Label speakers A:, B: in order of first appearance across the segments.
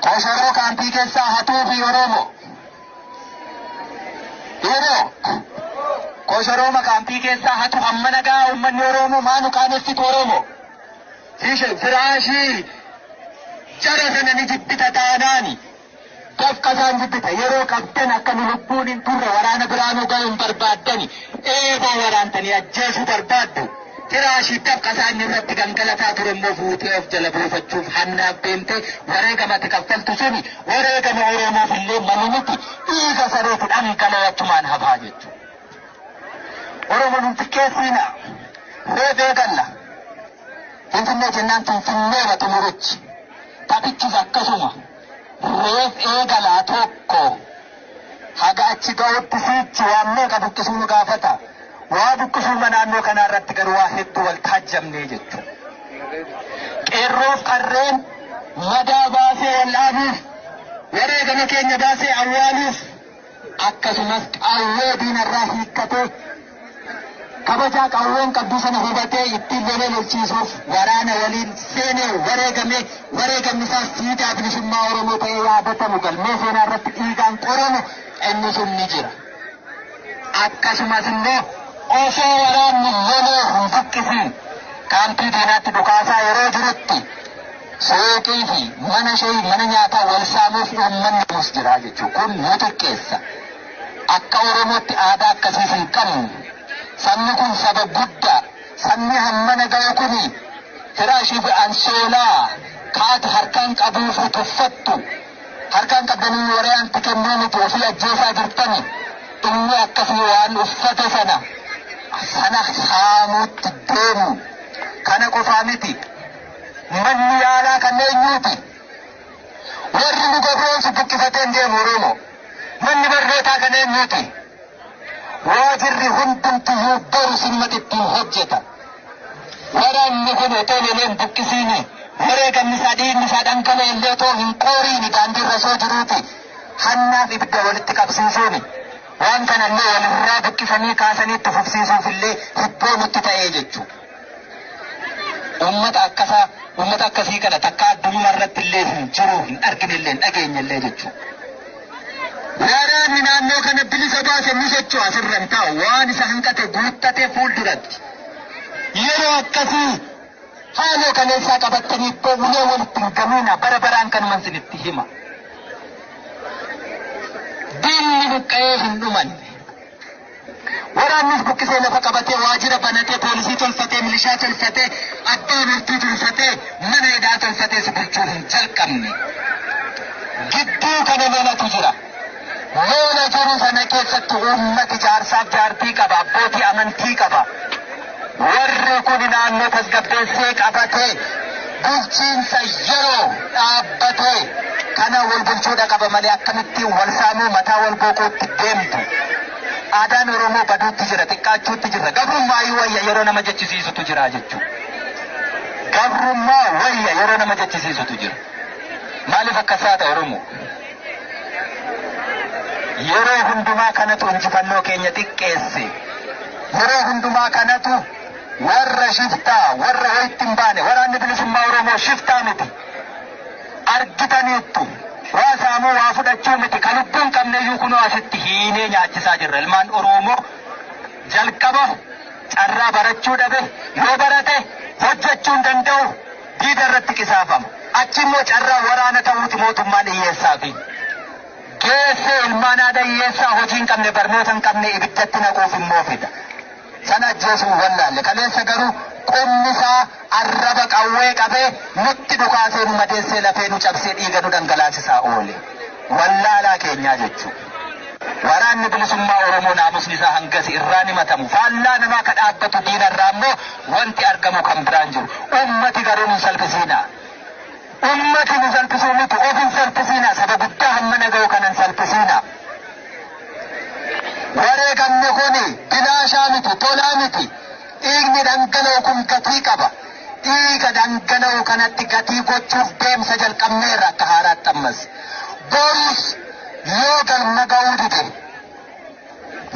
A: Koshoroo kaampii keessaa hatuu fi Oromoo. Yeroo koshorooma kaampii keessaa hatu hamma nagaa uummanni Oromoo maanu qaanessitu Oromoo. Ishe firaashii jara sana ni jibbita taanaani. Dafqa isaan jibbita. Yeroo qabdan akka nu lubbuun hin turre waraana biraa nu ga'u hin barbaaddani. Eeboo waraantanii ajjeesuu barbaaddu. Kiraashii dafqa isaa inni irratti gangalataa ture immoo fuutee of jala buufachuuf hannaaf deemtee wareegama ati kaffaltu suni wareegama Oromoof illee malu miti. Dhiiga sareeti dhangala'ee achumaan hafaa jechuudha. Oromoon hin xiqqeessiina. Reefee galla. Finfinnee jennaan Finfinneedha xumurichi. Taphichis akkasuma. Roob eegalaa tokko haga achi gahutti siichi waan meeqa buqqisuu nu gaafata. Waa buqqisuuma naannoo kanaa irratti garuu waa hedduu wal taajjabnee jechuudha. Qeerroof qarreen madaa baasee wal dhaabuuf, wareegama keenya baasee awwaaluuf, akkasumas qawwee diinarraa hiikkatee kabajaa qawween qabdu sana hubatee ittiin lolee lolchiisuuf waraana waliin seenee wareegamee wareegamni isaas siidaa bilisummaa Oromoo ta'ee yaadatamu galmee seenaa irratti dhiigaan qoramu inni sun ni jira. Akkasumas immoo osoo waraanni lolee hin buqqisiin kaampii diinaatti dhukaasaa yeroo jirutti Suuqii fi mana shayi mana nyaataa wal saamuuf uummanni yoomus jira jechuun kun nu xiqqeessa. Akka Oromootti aadaa akkasiis hin qabnu. Sabni kun saba guddaa. Sabni hammana gahu kun firaashii fi ansoolaa kaati harkaan qabuu fi tuffattu. Harkaan qabdanii waraanti kennuu miti ofii ajjeesaa jirtani. Inni akkasii waan uffate sana sana saamuutti deemu. Kana qofaa miti. Manni yaalaa kan eenyuuti? Warri nu gabroomsu buqqifatee hin deemu Oromoo. Manni barnootaa kan eenyuuti? Waajirri hundumtiyyuu boru sinumatti ittiin hojjeta. Waraanni kun otoo lolee hin buqqisiini. Wareegamni isaa dhiigni isaa dhangala'e illee otoo hin qooriini daandii irra osoo jiruuti. Hannaaf ibidda walitti qabsiisuuni. Waan kanallee walirraa buqqisanii kaasanii itti fufsiisuuf illee hibboo nutti ta'ee jechuudha. Uummata akkasaa, uummata akkasii kana takkaa addunuma irratti illee hin jiru, hin argine illee, hin dhageenye illee jechuu. Waraanni naannoo kana bilisa baase ni socho'a asirra hin taa'u. Waan isa hanqate guuttate fuulduratti. Yeroo akkasii haaloo kaleessaa qabattanii ittoo ulee walitti hin gamiina bara baraan kanuman isinitti hima. Diinni buqqa'ee hin dhumanne. Waraannis buqqisee lafa qabatee, waajira banatee, poolisii tolfatee, milishaa tolfatee, abbaa murtii tolfatee, mana hidhaa tolfatee si bulchuu hin jalqabne. Gidduu kana lolatu jira. Lola jiru sana keessatti uummati jaarsaaf jaartii qaba, abbootii amantii qaba. Warri kun naannoo tasgabbeessee qabatee bulchiinsa yeroo dhaabbatee kana wal bulchuudha qaba malee akkamittiin wal saamuu mataa wal gooquutti deemtu. Aadaan Oromoo baduutti jira, xiqqaachuutti jira. Gabrummaa wayya yeroo nama jechisiisutu jira jechuudha. Gabrummaa wayya yeroo nama jechisiisutu jira. Maaliif akkas taata Oromoo? Yeroo hundumaa kanatu injifannoo keenya xiqqeesse. Yeroo hundumaa kanatu warra shiftaa, warra ho'itti hin baane, waraanni bilisummaa Oromoo shiftaa miti. Argitaniittu. Waa saamuu, waa fudhachuu miti. Kan lubbuu hin qabneyyuu kunoo asitti hiinee nyaachisaa jirra. Ilmaan Oromoo jalqaba carraa barachuu dhabe. Yoo barate hojjechuu hin danda'u. diida irratti qisaafama. Achi immoo carraa waraana ta'uuti mootummaan dhiyyeessaafi. Geessee ilmaan haadha hiyyeessaa hojii hin qabne barnoota hin qabne ibiddatti naquuf immoo fida. Sana ajjeesuun wallaalle. Kaleessa garuu qubni isaa arraba qawwee qabee nutti dhukaasee nu madeessee lafee nu cabsee dhiiga nu dhangalaasisaa oole. Wallaalaa keenyaa jechuudha. Waraanni Bilisummaa Oromoo naamusni isaa hangasi irraan himatamu faallaa namaa ka dhaabbatu diina irraa ammoo wanti argamu kan biraan jiru. Ummati garuu nun salphisiinaa. Ummati nu salphisuu miti of hin salphisiinaa saba guddaa hammana gahu kana hin salphisiinaa. Wareegamni kuni bilaashaa miti tolaa miti. Dhiigni dhangala'u kun gatii qaba. Dhiiga dhangala'u kanatti gatii gochuuf deemsa jalqabneerra akka haaraatti ammas. Borus yoo galma ga'uu dide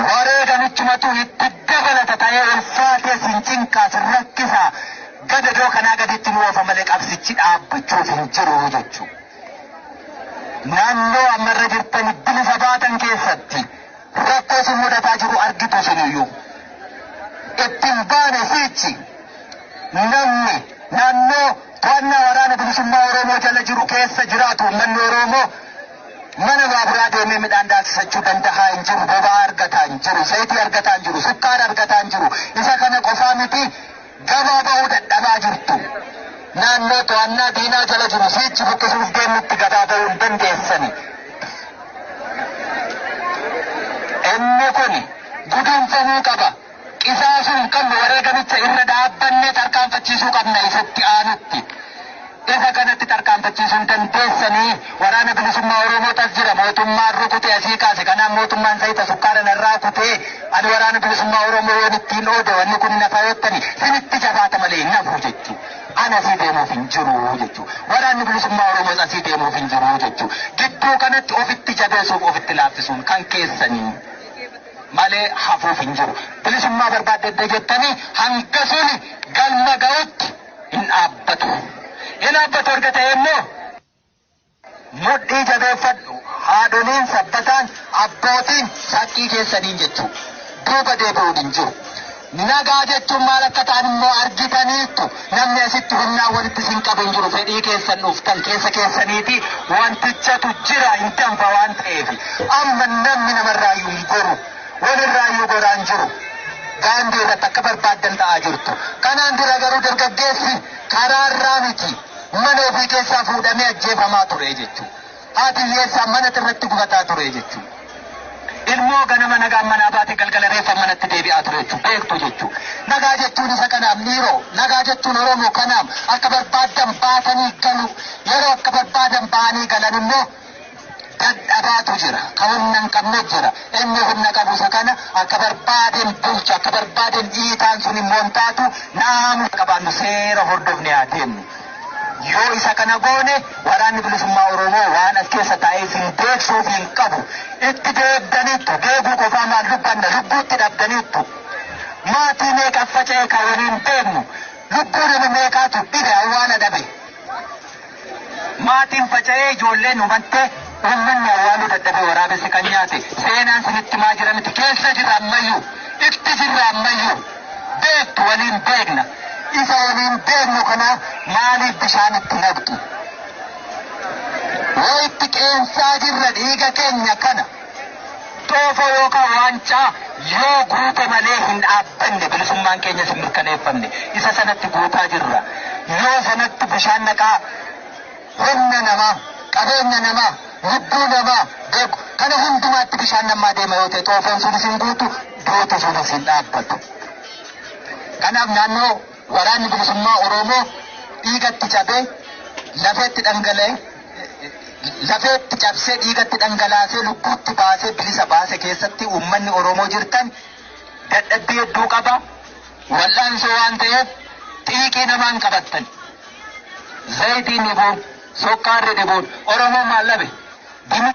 A: wareegamichumatu itti dabalata ta'ee ulfaatee sin cinqaa sin rakkisaa gadadoo kanaa gaditti nu oofa malee qabsichi dhaabbachuuf hin jiru jechuu. Naannoo ammarra jirtan bilisa baatan keessatti Rakkoo si mudataa jiru argitu siniyyuu itti hin baane siichi namni naannoo to'annaa waraana bilisummaa Oromoo jala jiru keessa jiraatu uummanni Oromoo mana baaburaa deemee midhaan daaksisachuu dandahaa hin jiru, boba'aa argataa hin jiru, zayitii argataa hin jiru, sukkaara argataa hin jiru. Isa kana qofaa miti Gabaa ba'uu dadhabaa jirtu. Naannoo to'annaa diinaa jala jiru siichi buqqisuuf deemnutti gabaa ba'uu hin dandeessani. Inni kun guduunfamuu qaba. Qisaasuu hin qabnu wareegamicha irra dhaabbanne tarkaanfachiisuu qabna isatti aanutti. Isa kanatti tarkaanfachiisuun dandeessanii Waraana Bilisummaa Oromootu as jira, mootummaan rukute asii kaase, kanaaf mootummaan zayita sukkaara narraa kutee ani Waraana Bilisummaa Oromoo yoon ittiin oode wanni kun hin hafa yottani sinitti jabaata malee hin hafu jechuu. An asii deemuuf hin jiru jechuu. Waraanni Bilisummaa Oromoos asii deemuuf hin jiru jechuu. Gidduu kanatti ofitti jabeessuuf ofitti laaffisuun kan keessanii malee hafuuf hin jiru. Bilisummaa barbaadda edda jettanii hanga suni galma ga'utti. hin dhaabbatu. Hin dhaabbatu erga ta'ee immoo mudhii jabeeffadhu. Haadholiin, sabbataan, abbootiin shakkii keessaniin jechuu duuba deebi'uun hin jiru. Nagaa jechuun maal akka ta'an immoo argitaniittu. Namni asitti humnaan walitti isin qabu hin jiru. Fedhii keessan dhuftan keessa keessaniiti wantichatu jira hin danfa waan ta'eef. Amma namni namarraayyuu hin goru. Walirraayyuu goraan jiru. Daandii irratti akka barbaaddan ta'aa jirtu. Kanaan dura garuu dargaggeessi karaarraa miti mana ofii keessaa fuudhamee ajjeefamaa ture jechuu. Haati hiyyeessaa manatti irratti gubataa ture jechuu. Ilmoo ganama nagaan manaa baate galgala reeffa manatti deebi'aa ture jechuu. Beektu jechuu. Nagaa jechuun isa kanaaf miiroo. Nagaa jechuun Oromoo kanaaf akka barbaaddan baatanii galu. Yeroo akka barbaadan ba'anii galan immoo dadhabaatu jira. Ka humna hin qabne jira. Inni humna qabu isa kana akka barbaadeen bulcha, akka barbaadeen dhiitaan sun immoo hin taatu naamusa qabaannu seera hordofne haa deemnu. Yoo isa kana goone waraanni bilisummaa Oromoo waan as keessa taa'ee isin deegsuuf hin qabu. Itti deegdaniittu deeguu qofaa maal dubbanna lubbuutti dhabdaniittu. Maatii meeqa faca'e kan waliin deemnu lubbuu nama meeqaatu dhibe awwaala dhabe. Maatiin faca'ee ijoolleen hubattee uummanni awwaaluu dadhabee waraabessi kan nyaate seenaan sinitti himaa jira miti keessa jirra ammayyuu itti jirra ammayyuu beektu waliin beekna isa waliin beeknu kana maaliif bishaan itti naqxu wayitti qeensaa jirra dhiiga keenya kana. Xoofoo yookaan waancaa yoo guute malee hin dhaabbanne, bilisummaan keenyas hin mirkaneeffamne. Isa sanatti guutaa jirra. Yoo sanatti bishaan naqaa humna namaa, qabeenya namaa, lubbuu namaa, beg, kana hundumaatti bishaan nammaa deema yoo ta'e xoofoon sunis hin guutu, duuti sunis hin dhaabbatu. Kanaaf naannoo. Waraanni Bilisummaa Oromoo dhiigatti cabee, lafeetti dhangala'e, lafeetti cabsee, dhiigatti dhangalaasee, lubbuutti baasee bilisa baase keessatti uummanni Oromoo jirtan dadhabbii hedduu qaba. Wal'aansoo waan ta'eef xiiqii namaan qabattan. Zayitiin dhibuun, sokkaarri dhibuun Oromoon maal dhabe? Dimi-